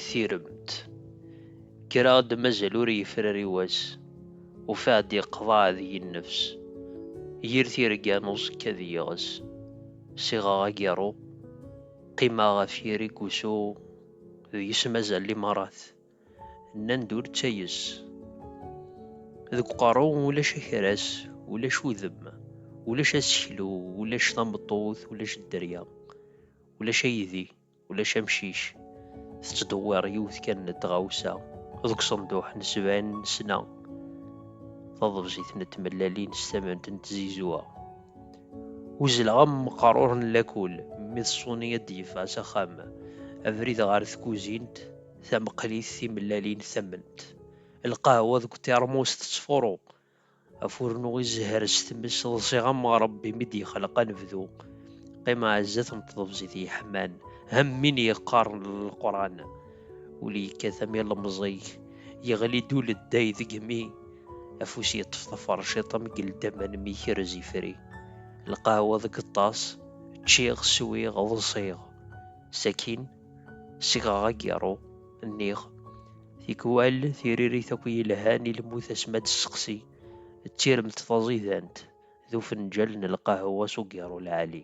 Tiremt. Kkreɣ-d mazal ur yefrari wass, ufiɣ-d yeqḍeɛ deg-i nnefs. Yir tirga n uẓekka d yiɣes. Siɣeɣ agiṛṛu, qqimeɣ ɣef yiri n wusu, deg-s mazal limaṛat. Nnan-d ur ttayes. Deg uqerru ulac akeras, ulac udem, ulac aseklu, ulac tameṭṭut, ulac dderya, ulac aydi, ulac amcic. Tettdewwiṛ yiwet kan n tɣawsa deg uṣenduḥ n sebɛin n ssna, taḍebsit n tmellalin s tament n tzizwa. Uzzleɣ am meqrur n lakul mi ḍṣuni ad d-yeffeɣ s axxam. Abrid ɣer tkuzint. tamqli s timellalin tamment, lqahwa deg utirmus tettfuru, afurnu izehher s tmes ḍsiɣ am Ṛebbi mi d-yexleq anebdu, qqim ɛezzat n tḍebzit yeḥman am win yeqqaren Leqran, ul yekkat am ilemẓig, yeɣli-d uledday deg-mi, afus yeṭṭef taferciṭ am geldamman mi ikrez ifri, lqahwa deg ṭṭas, ččiɣ, swiɣ, ḍsiɣ. Sakin, segɣeɣ agiṛṛu, nniɣ, tikwal tiririt akk yelhan i lmut asmi ad d-sseqsi d tiremt taẓidant d ufenǧal n lqahwa s ugiṛṛu lɛali.